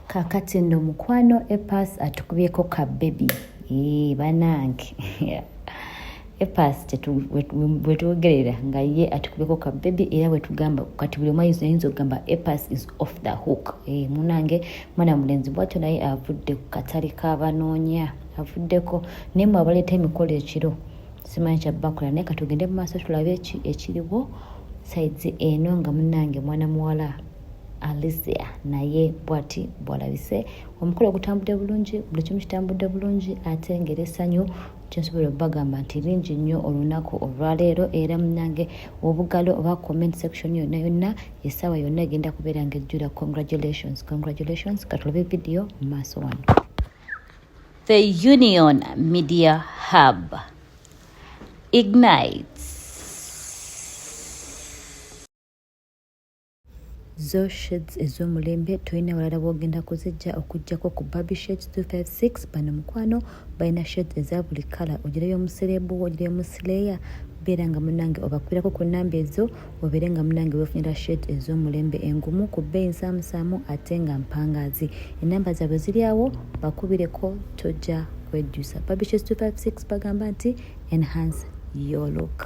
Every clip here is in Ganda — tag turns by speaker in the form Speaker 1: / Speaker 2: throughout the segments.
Speaker 1: kakati nno mukwano epas atukubyeko ka bebi ee banange epas bwetwogerera nga ye atukubyeko ka bebi era bwetugamba kati buli omwayinza ayinza okugamba epas is off the hook ee munange mwana mulenzi bwatyo naye avudde ku katale kabanoonya avuddeko naye mwe abaleeta emikolo ekiro simanyi kyabakola naye katugende mu maaso tulabe ekiriwo saizi eno nga munange mwana muwala Alicia naye bwati bwalabise omukolo ogutambudde bulungi buli kimu kitambudde bulungi ate ngeri essanyu kyensobola okubagamba nti lingi nnyo olunaku olwaleero era munange obugalo oba comment section yonna yonna essaawa yonna egenda kubeera nga ejjula congratulations congratulations katulabe vidiyo mu maaso wano the union media hub ignites zo shades ez'omulembe tolina walala bwogenda kuzijja okujjako ku baby shades 256 bano mukwano balina shades eza buli kala ogirayo omuserebu ogirayo omusileya beera nga munange obakwirako ku namba ezo obeere nga munange wefunira shades ez'omulembe engumu ku bbeeyi nsaamusaamu ate nga mpangaazi enamba zaabwe ziri awo bakubireko tojja kwejjusa baby shades 256 bagamba nti enhance your look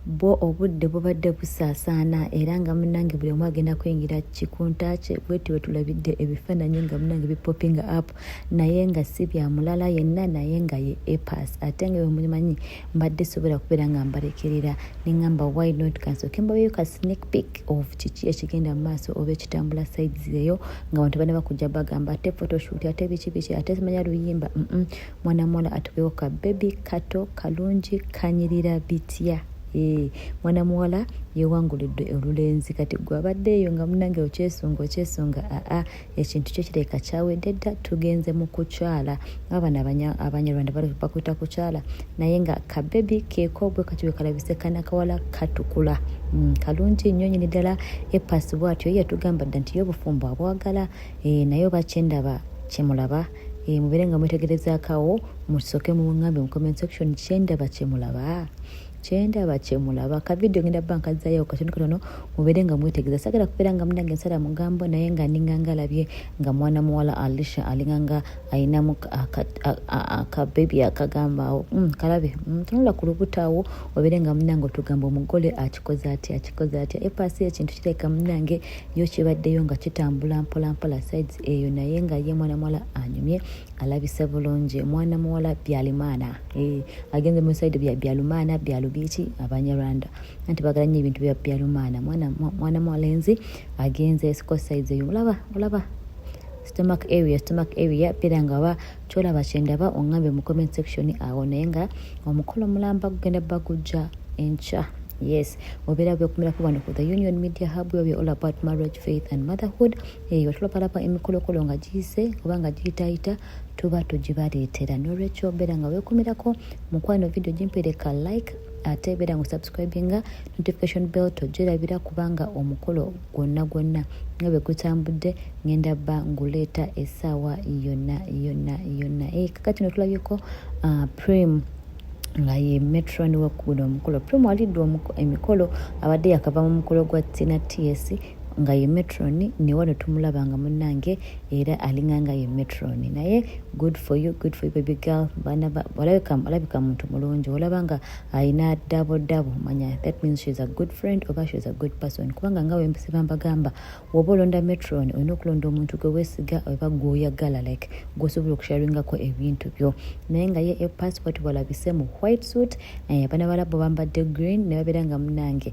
Speaker 1: bwo obudde bubadde busaasaana era nga munange buli omu agenda kuyingira kikunta kye bweti wetulabidde ebifaananyi nga munange bipopinga app naye nga si bya mulala yenna naye nga ye epas ate nga wemumanyi mbadde sobola kubeera nga mbalekerera neŋamba why not kansooke mbaweyo ka sneak pick of kiki ekigenda mu maaso oba ekitambula sides eyo nga bantu bana bakujja bagamba ate photoshoot ate biki biki ate simanya luyimba mm -mm. mwana muwala atubewo ka bebi kato kalungi kanyirira bitya eh, mwana muwala yewangulidde olulenzi kati gwe abadde eyo nga munange okyesunga okyesunga aa ekintu kyo kireka kyawedde dda tugenze mu kukyala abana abanyarwanda bakuta kukyala naye nga kabebi kekogwe kati wekalabise kanakawala katukula mm, kalungi nnyo nyini ddala epasi bwatyo yatugamba dda nti yo obufumbo abwagala eh, naye oba kyendaba kyemulaba Eh, mubeere nga mwetegerezaakawo musoke mungambe mu comment section kyendaba kyemulaba kyendaba kyemulaba kavidiyo ngenda bba nkazzayo katono katono mubeere nga mwetegereza sagala kubeera nga munange nsala mugambo naye nga ninganga alabye nga mwana muwala alisha alinganga alinamu akabebi akagamba awo mm, kalabe mm, tunula ku lubuto awo obeere nga munange otugamba omugole akikoze atya akikoze atya epaasi ekintu kireka munange yo kibaddeyo nga kitambula mpolampola sides eyo naye nga ye mwana muwala anyumye alabise bulungi mwana muwala byalimaana eh, agenze mu side bya byalumaana byalubiiki abanyarwanda anti bagala nnyo ebintu bya byalumaana mwana muwala enzi agenze siko sides eyo olaba olaba stomach area stomach area pera nga ba kyolaba kyendaba ongambye mu comment section awo naye nga omukolo mulamba gugenda bagujja enkya yes obeera bekumirako wano ku the union media hub where we all about marriage faith and motherhood eyo eh, tulapalapa emikolokolo nga giyise oba nga giyitayita tuba tugibaleetera nolwekyo obeera nga wekumirako mukwano video gimpereka like ate beera nga osubscribinga notification bell tojerabira kubanga omukolo gwonna gwonna nga bwe gutambudde ngenda bba nguleeta essaawa yonna yonna yonna eh, kaka kino tulabyeko ah, prim nga ye metron wakuguda omukolo prim alidde emikolo abadde yakava mu mukolo gwa tina ts nga ye metron newano tumulaba nga munange era alinga nga ye metron naye good for you good for you baby girl olabika muntu mulungi olaba nga alina dabo dabo manya that means she's a good friend oba she's a good person kubanga nga wempisiba mbagamba woba olonda metron olina okulonda omuntu gwe wesiga oba gwoyagala like gwosobola okusharingako ebintu byo naye nga ye e passport walabise mu white suit naye abana balabo bambadde green nebabeera nga munange